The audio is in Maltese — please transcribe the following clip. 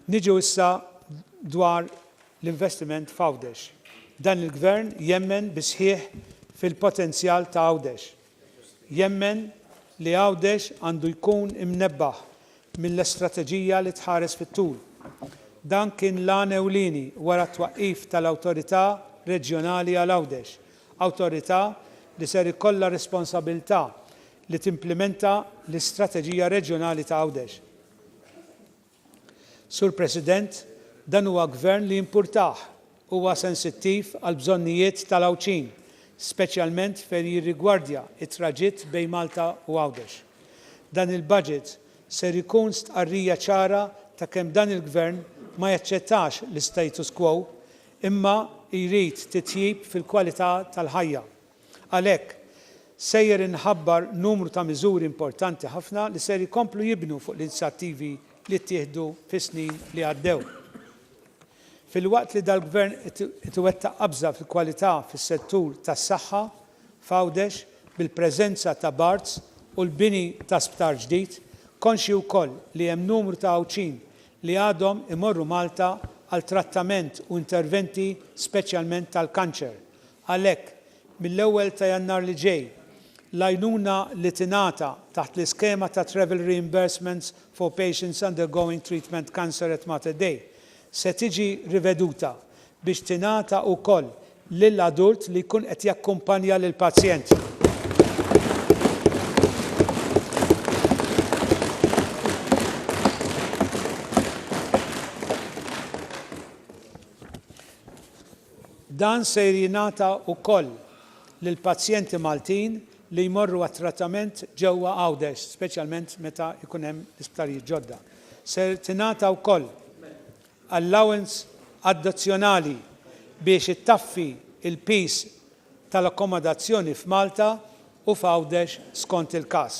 Niġu issa dwar l-investiment f'Għawdex. Dan il-Gvern jemmen bis-sħiħ fil-potenzjal ta' Għawdex. Jemmen li Għawdex għandu jkun imnebbaħ mill-istrateġija li tħares fit-tul. Dan kien l-għan ewlieni wara t-twaqqif tal-Awtorità Reġjonali għal Għawdex, awtorità li ser ikollha r-responsabilità li timplimenta l-Istrateġija Reġjonali ta' Għawdex. Sur President, dan huwa Gvern li jimpurtah Huwa sensittiv għall-bżonnijiet tal-Għawdxin, speċjalment fejn jirrigwardja t-traġitt bejn Malta u Għawdex. Dan il-Budget ser ikun stqarrija ċara ta' kemm dan il-Gvern ma jaċċettax l-istatus quo imma jrid titjib fil-kwalità tal-ħajja. Għalhekk, sejjer inħabbar numru ta' miżuri importanti ħafna li ser ikomplu jibnu fuq l-inizjattivi li ttieħdu fis-snin li għaddew. Filwaqt li dal-Gvern qed iwettaq qabża fil-kwalità fis-settur tas-saħħa f'Għawdex bil-preżenza ta' Barts u l-bini ta' sptar ġdid, konxji wkoll li hemm numru ta' Għawdxin li għadhom imorru Malta għal trattament u interventi speċjalment tal-kanċer. Għalhekk, mill-ewwel ta' Jannar li ġej, l-għajnuna li tingħata taħt l-iskema ta' Travel Reimbursements for Patients Undergoing Treatment Cancer at Mater Dei se tiġi riveduta biex tingħata wkoll lil adult li jkun qed jakkumpanja lill-pazjent. Dan ser jingħata wkoll lill-pazjenti Maltin li jmorru għat-trattament ġewwa Għawdex, speċjalment meta jkun hemm l-isptarijiet ġodda. Se tingħata wkoll allowance addizzjonali biex ittaffi l-piż tal-akkomodazzjoni f'Malta u f'Għawdex skont il-każ.